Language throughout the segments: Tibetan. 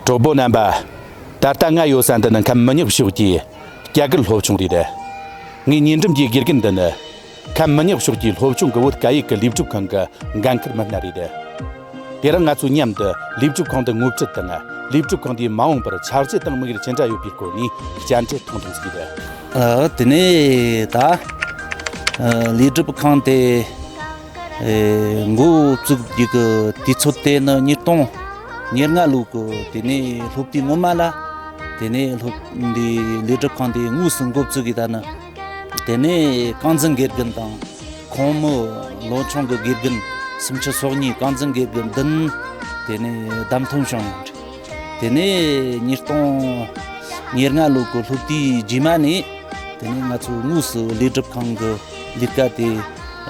གྲོགས་པོ་རྣམ་པ། ད་ལྟ་ང་ཡོད་ས་འདི་ནི་ཁམས་མི་ཉག་ཕྱོགས་ཀྱི་སྐྱ་གར་སློབ་ཆུང་རེད། ངའི་ཉེ་འགྲམ་གྱི་དགེ་རྒན་འདི་ནི། ཁམས་མི་ཉག་ཕྱོགས་ཀྱི་སློབ་ཆུང་གི་བོད་སྐད་ཡིག་གི་ལས་སྒྲུབ་ཁང་གི་འགན་འཁུར་མི་སྣ་རེད། དེ་རིང་ང་ཚོས་མཉམ་དུ་ལས་སྒྲུབ་ཁང་འདི་ངོ་ཁྲིད་དང་ལས་སྒྲུབ་ཁང་འདིའི་མ་འོངས་པར་ཆགས་རྗེས་དང་དམིགས་ཡུལ་ཅི་འདྲ་ཡོད་པའི་སྐོར་ནས་བཅར་འདྲི་ཐུང་ཐུང་བྱས་ཡོད། དེ་ནས་ད། ལས་སྒྲུབ་ཁང་དེ། འགོ་བཙུགས་རྒྱུ་གི་དུས་ཚོད་དེ་ནི་ཉིས་སྟོང་ཉེར་ལྔ་ལོའི་གོ་དེ་ནས་སློབ་དུས་སྔོན་མ་ལ་དེ་ནས་སློབ་འདི་ལས་སྒྲུབ་ཁང་དེ་དངོས་སུ་འགོ་བཙུགས་ཀྱི་ད་ནི་དེ་ནས་རྐང་འཛིན་དགེ་རྒན་དང་ཁོང་མོ་ལོ་ཆུང་གི་དགེ་རྒན་སུམ་ཅུ་སོ་གཉིས་རྐང་འཛིན་དགེ་རྒན་བདུན་དེ་ནས་བདམས་ཐོན་བྱུང་དེ་ནས་ཉིས་སྟོང་ཉེར་ལྔ་ལོ་གི་ལྷོ་སྟེའི་རྗེས་མ་ནས་དེ་ནས་ང་ཚོའི་དངོས་སུ་ལས་སྒྲུབ་ཁང་གི་ལས་ཀ་དེ་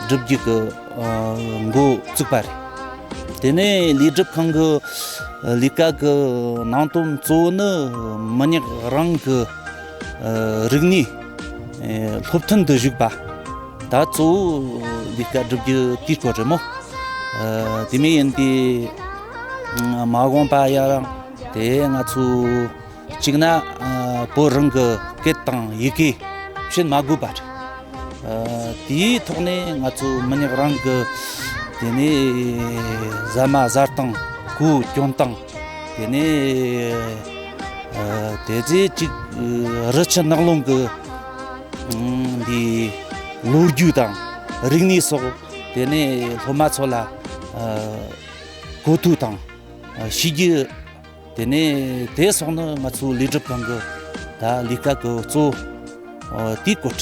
སྒྲུབ་རྒྱུ་གི་འགོ་བཙུགས་པ་རེད། དེ་ནས་ལས་སྒྲུབ་ཁང་གི་ལས་ཀ་གི་ནང་དོན་གཙོ་བོ་ནི་མི་ཉག་རང་གི་རིག་གནས་སློབ་ཐོན་དུ་ཞུགས་པ་ད་གཙོ་བོ་ལས་ཀ་སྒྲུབ་རྒྱུ་དེའི་སྐོར་རེད་མོད། དེ་མིན་ཡིན་ཏེ། མ་འོངས་པ་ཡང་དེ་ང་ཚོས་གཅིག་ན་བོད་རང་གི་སྐད་དང་ཡི་གེ་བཤད་མ་དགོས་པ་རེད། དེའི་ཐོག་ནས་ང་ཚོ་མི་ཉག་རང་གི་དེ་ནས་ཟ་མ་ཟ་སྟངས་གོས་གྱོན་སྟངས་དེ་ནས་དེ་རྗེས་གཅིག་རི་ཆུ་ནགས་ཀླུང་གི་འདི་ལོ་རྒྱུས་དང་རིག་གནས་སོགས་དེ་ནས་སློབ་མ་ཚོ་ལ་གོ་ཐོས་དང། ཤེས་རྒྱུ། དེ་ནས་དེ་སོགས་ནི་ང་ཚོའི་ལས་སྒྲུབ་ཁང་གི་ལས་ཀ་གི་གཙོ་བོ་དེའི་བཀོད།